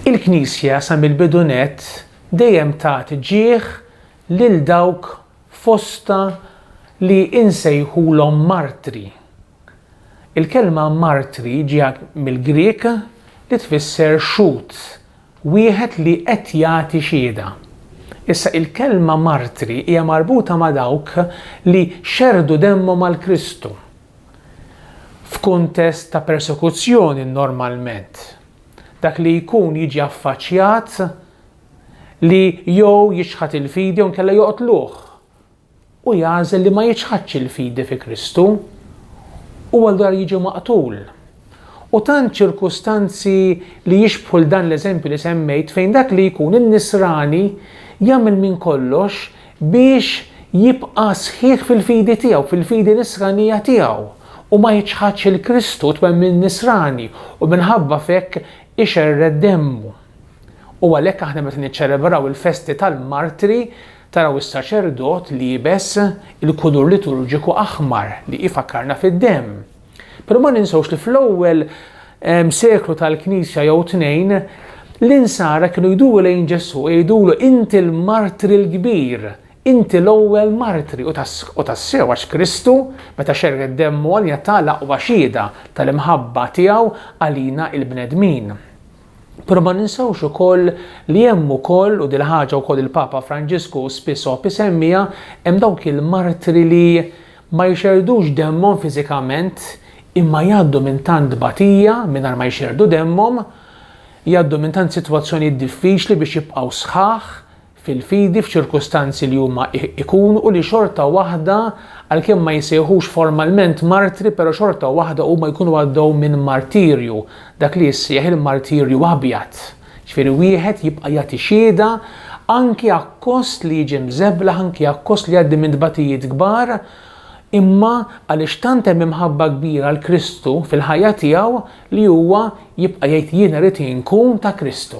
Il-Knisja sa mill-bidu nett dejjem tat ġieħ lil dawk fostha li insejħulhom martri. Il-kelma martri ġiet mill-Grieg li tfisser xhud, Wieħed li qed jagħti xiehda. Issa, il-kelma martri hija marbuta ma' dawk li xerrdu demmhom għal Kristu, f'kuntest ta' persekuzzjoni normalment. Dak li jkun jiġi affaċċjat li jew jiċħad il-fidi jew inkella joqtluh. u jagħżel li ma jiċħadx il-fidi fi Kristu, huwa l-dar jiġi maqtul. U tant ċirkustanzi li jixbħu 'l dan l-eżempju li semmejt fejn dak li jkun in-nisrani jagħmel minn kollox biex jibqa' sħiħ fil-fidi tiegħu, fil-fidi nisranija tiegħu, u ma jiċħadx 'l Kristu, t-twemmin nisrani, u minħabba f'hekk ixerred demmu. U għalhekk aħna meta niċċelebraw il-festi tal-martri, Taraw is-saċerdot liebes il-kulur liturġiku aħmar li ifakkarna fid-demm. Però ma ninsewx li fl-ewwel ehm, seklu tal-Knisja jew tnejn l-insara kienu jduru lejn Ġesù jgħidulu inti l-martri l-kbir, inti l-ewwel martri u tassew għax Kristu meta xerred demmu għalina ta l-aqwa xieda tal-imħabba tiegħu għalina il-bnedmin. Però ma ninsewx ukoll li hemm ukoll, u dil-ħaġa wkoll il-Papa Franġisku spiss iħobb isemmiha, hemm dawk il-martri li ma jxerrdux demmhom fiżikament imma jgħaddu minn tant tbatija mingħajr ma jxerrdu demmhom, jgħaddu minn tant sitwazzjonijiet diffiċli biex jibqgħu sħaħ, fil-fidi f'ċirkustanzi li huma jkunu u li xorta waħda għalkemm ma jsejħux formalment martri però xorta waħda huma jkunu għaddew minn martirju, dak li jissejjaħ il-martirju abjad, ġifieri wieħed jibqa' jagħti xhieda anki akkost li jiġi mżeblaħ, anki akkost li jgħaddi minn tbatijiet kbar, imma għaliex tant hemm imħabba kbira għal Kristu fil-ħajja tiegħu li huwa jibqa' jgħid jiena rrid inkun ta' Kristu.